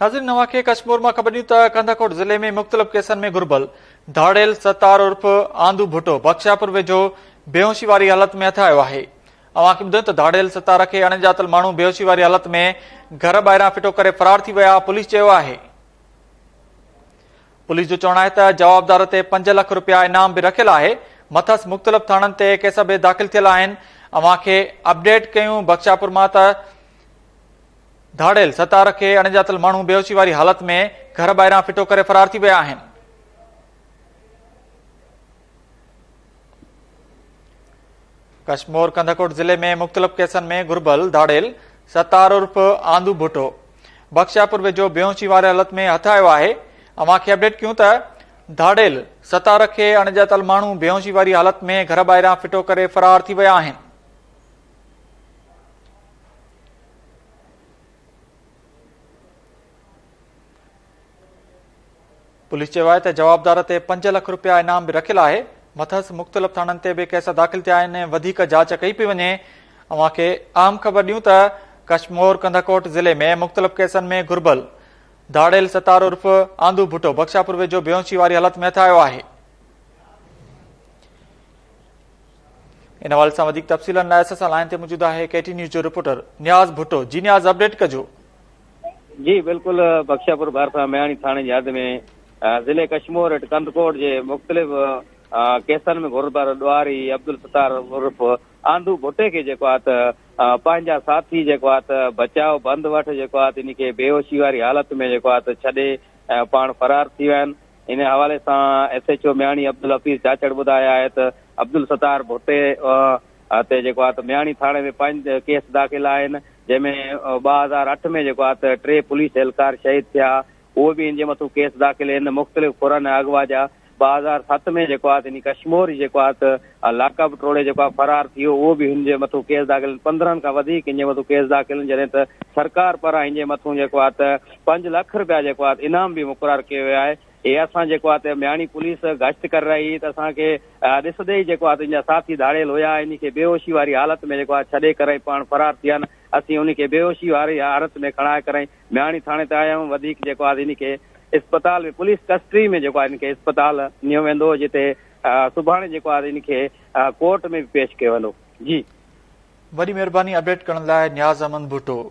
ناظرين اوهان کي ڪڇ مور مان خبر ڏيون ته ڪنڌڪوٽ ضلعي ۾ مختلف ڪيسن ۾ گهربل ڌاڙيل ستار عرف آندو ڀٽو بخشاپور ويجهو بيهوشي واري حالت ۾ هٿ آيو آهي اوهان کي ٻڌايون ته ڌاڙيل ستار کي اڻڄاتل ماڻهو بيهوشي واري حالت ۾ گهر ٻاهران ڦٽو ڪري فرار ٿي ويا پوليس چيو آهي پوليس جو چوڻ آهي ته جوابدار تي پنج لک روپيا انعام به رکيل آهي مٿس مختلف ٿاڻن تي ڪيس به داخل ٿيل آهن اوهان کي اپڊيٽ ڪيون بخشاپور مان ته ڌاڙيل ستار کي اڻڄاتل ماڻهو بيهوشي واري حالت ۾ گهر ٻاهران ڦٽو ڪري فرار ٿي ويا آهن. ڪشمور ڪنڌڪوٽ ضلعي ۾ مختلف ڪيسن ۾ گهربل ڌاڙيل ستار عرف آندو ڀٽو بخشاپور ويجهو بيهوشي واري حالت ۾ هٿ آيو آهي اوهان کي اپڊيٽ ڪيون ته ڌاڙيل ستار کي اڻڄاتل ماڻهو بيهوشي واري حالت ۾ گهر ٻاهران ڦٽو ڪري فرار ٿي ويا آهن پوليس چيو آهي ته جوابدار تي پنج لک رپيا انعام به رکيل آهي مٿس مختلف ٿاڻن تي به ڪيس داخل ٿيا آهن وڌيڪ جاچ ڪئي پئي وڃي اوهان کي اهم خبر ڏيون ته ڪشمور ڪنڌڪوٽ ضلعي ۾ مختلف ڪيسن ۾ گهربل ڌاڙيل ستار عرف آندو ڀٽو بخشاپور ويجهو بيونسي واري حالت ۾ هٿ آيو آهي ان حوالي سان وڌيڪ تفصيلن لاء اسان سان لائن تي موجود آهي ڪي ٽي نيوز جو رپورٽر نياز ڀٽو جي نياز اپڊيٽ ڪجو جي بلڪل بخشاپور ڀرسان مياڻي ٿاڻي جي حد ۾ ضلع ڪشمور اٽ ڪندڪوٽ جي مختلف ڪيسن ۾ گھربر ڏواري عبدالستار عرف آندو ڀٽي کي جيڪو آت پنهنجا ساٿي جيڪو آت بچاء بند وٺ جيڪو آت ان کي بيهوشي واري حالت ۾ جيڪو آت ڇڏي پاڻ فرار ٿي ويا آهن ان حوالي سان S H O Miani Abdul Hafeez Chachar ٻڌايو آهي ته عبدالستار ڀٽي تي جيڪو آهي ته مياڻي ٿاڻي ۾ پنج ڪيس داخل آهن جنهن ۾ ٻه هزار اٺ ۾ جيڪو آهي ته ٽي پوليس اهلڪار شهيد ٿيا اهي به ان جي مٿو ڪيس داخل آهن مختلف ڦرن ۽ اغوا جا ٻه هزار ست ۾ جيڪو آهي ته ان ڪشمور جيڪو آهي ته ۽ لاڪ اپ ٽوڙي جيڪو آهي فرار ٿي ويو اهو به هن جي مٿو ڪيس داخل آهن پندرهن کان وڌيڪ هن جي مٿو ڪيس داخل آهن جڏهن ته سرڪار پاران هن جي مٿو جيڪو آهي ته پنج لک رپيا جيڪو آهي انعام به مقرر ڪيو ويو آهي هي اسان جيڪو آهي ته مياڻي پوليس گشت ڪري رهي هئي ته اسان کي ڏسندي ئي جيڪو آهي ته ان جا ساٿي ڌاڙيل هيا ان کي بيهوشي واري حالت ۾ جيڪو آهي ڇڏي ڪري پاڻ فرار ٿي ويا آهن اسين ان کي بيهوشي واري حالت ۾ کڻائي ڪري مياڻي ٿاڻي تي آيا آهيون وڌيڪ جيڪو آهي ان کي اسپتال ۾ پوليس ڪسٽري ۾ جيڪو آهي ان کي اسپتال نيو ويندو جتي سڀاڻي جيڪو آهي ان کي ڪورٽ ۾ به پيش ڪيو ويندو جي. وڏي مھرباني اپڊيٽ ڪرڻ لاء نياز احمد ڀٽو.